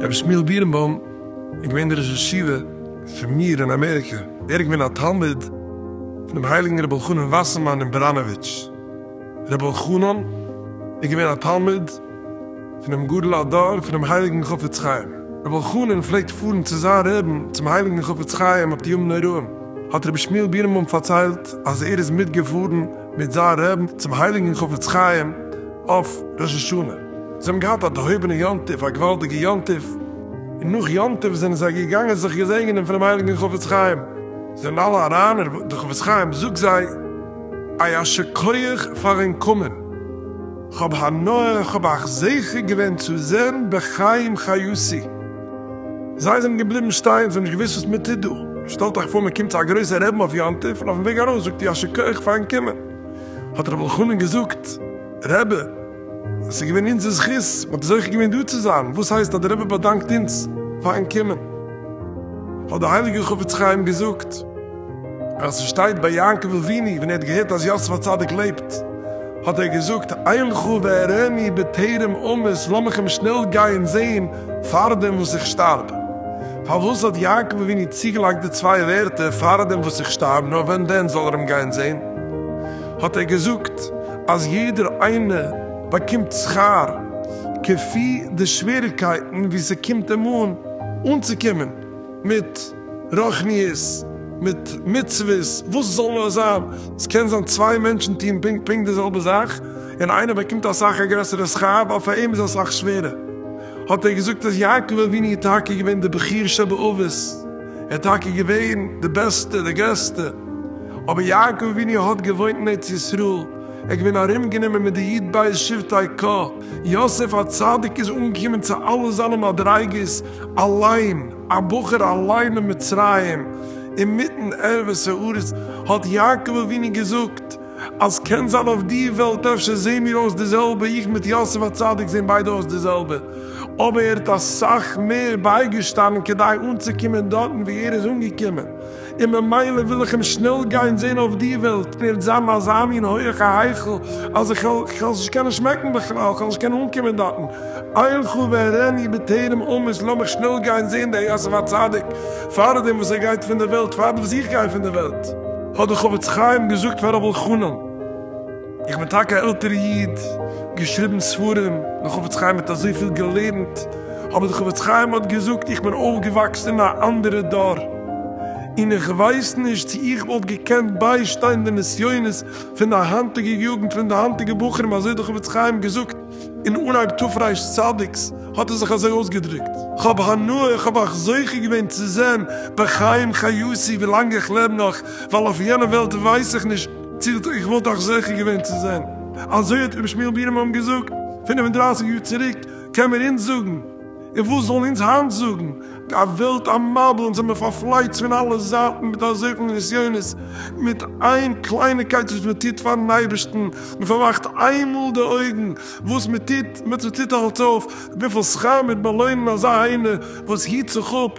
רבי שמואל בירנבוים איז געווען דער ראש ישיבה פון מיר אין אמעריקע. ער איז געווען א תלמיד פונעם הייליגן רבי אלחנן וואסערמאן אין בראנאוויטש. רבי אלחנן איז געווען א תלמיד. פונעם גדול הדור פונעם הייליגן חפץ חיים. רבי אלחנן פלעגט פארן צו זיין רעבן צום הייליגן חפץ חיים אויף די ימים נוראים, האט רבי שמואל בירנבוים פארציילט אז ער איז מיטגעפארן מיט זיין רעבן צום הייליגן חפץ חיים אויף ראש השנה, זיי האבן געהאט א דערהויבענע יום טוב, א געוואלדיגע יום טוב, און נאך יום טוב זענען זיי געגאנגען זיך געזעגענען פונעם הייליגן חפץ חיים, זענען אלע אריין און דער חפץ חיים זאגט זיי א ישר כח פארן קומען. כ'האב הנאה, כ'האב אייך זוכה געווען צו זען בחיים חיותי. זיי זענען געבליבן שטיין, זיי האבן נישט געוואוסט וואס מען טוט דא. שטעלט אייך פאר מען קומט צו א גרויסער רעבן אויף יום טוב און אויפן וועג ארויס זאגט איר ישר כח פארן קומען. האט רבי אלחנן געזאגט, רבי, עס איז געווען אונזער זכות, מען האט זוכה געווען דא צו זיין, וואס הייסט אז דער רבי באדאנקט אונז פארן קומען? האט דער הייליגער חפץ חיים געזאגט. אז ס'שטייט ביי יעקב אבינו ווען ער האט געהערט אז יוסף הצדיק לעבט האט ער געזאגט אילכו ואראני בטרם אמות לאמיך אים שנעל גיין זעהן פארדעם וואס איך שטארב. פארוואס האט יעקב אבינו צוגעלייגט די צוויי ווערטער פארדעם וואס איך שטארב נאר ווען דען זאל ער אים גיין זעהן? האט ער געזאגט אז יעדער איינער באקומט שכר כפי די שוועריגקייטן ווי ס'קומט אים אן אנצוקומען מיט. רוחניות מיט מצוות, וואס זאל נאר זיין, עס קען זיין צוויי מענטשן טוהן פונקט פונקט די זעלבע זאך, און איינער באקומט אסאך א גרעסערע שכר, ווייל פאר אים איז אסאך שווערער. האט ער געזאגט אז יעקב אבינו איז טאקע געווען דער בחור שבאבות, ער איז טאקע געווען דער בעסטער, דער גרעסטער, אבער יעקב אבינו האט געוואוינט אין ארץ ישראל, ער איז געווען ארום גענומען מיט די י' בית שבטי ק, יוסף הצדיק איז אנגעקומען צו אלע זיינע מדריגות אליין. א בחור אליין אין מצרים אינמיטן ערבות הארץ, האט יעקב אבינו געזאגט אז קען זיין אויף די וועלט אפשר זעהן מיר אויס די זעלבע, איך מיט יוסף הצדיק זעהן ביידע אויס די זעלבע, אבער ער האט אסאך מער בייגעשטאנען כדי אנצוקומען דארטן וואו ער איז אנגעקומען. און ממילא וויל איך אים שנעל גיין זען אויף די וועלט, און ער וועט זיין אין אזא מין הויעכע היכל, אז איך וועל עס נישט קענען שמעקן בכלל, איך וועל נישט קענען אנקומען דארטן. אילכו ואראני בטרם אמות, לאמיך שנעל גיין זען די יוסף הצדיק, פאר דעם וואס ער גייט פון די וועלט, פאר דעם וואס איך גיי פון די וועלט. האט דער חפץ חיים געזאגט פאר ר' אלחנן. איך בין טאקע א עלטערע איד, געשריבן ספרים, די חפץ חיים האט אזויפיל געלערנט, אבער די חפץ חיים האט געזאגט איך בין אויפגעוואקסן אין א אנדערע דור, און איך ווייס נישט צו איך וואלט געקענט ביישטיין די נסיונות פון די היינטיגע יוגנט פון די היינטיגע בחורים אזוי די חפץ חיים געזאגט אין אנהייב תרפ צדיק'ס האט ער זיך אזוי אויסגעדרוקט. כ'האב הנאה איך האב אייך זוכה געווען צו זען בחיים חיותי ווילאנג איך לעב נאך, ווייל אויף יענע וועלט ווייס איך נישט. צירט איך וואלט דאך זוכה געווען צו זען אזוי האט רבי שמואל בירעמאן געזאגט פֿינף און דרײַסיק יאר צוריק, קען מיר אונז זאגן, און וואס זאלן אונז היינט זאגן, די וועלט א מבול אונז זעמיר פארפלייצט פון אלע זייטן מיט אזויפיל נסיונות, מיט איין קלייניקייט וואס מען טוט פארן אייבערשטן, מען פארמאכט איינמאל די אויגן וואס מען טוט, מען טוט אלץ אויף, וויפיל שכר מיט באלוינען אזא איינער וואס היט זיך אפ,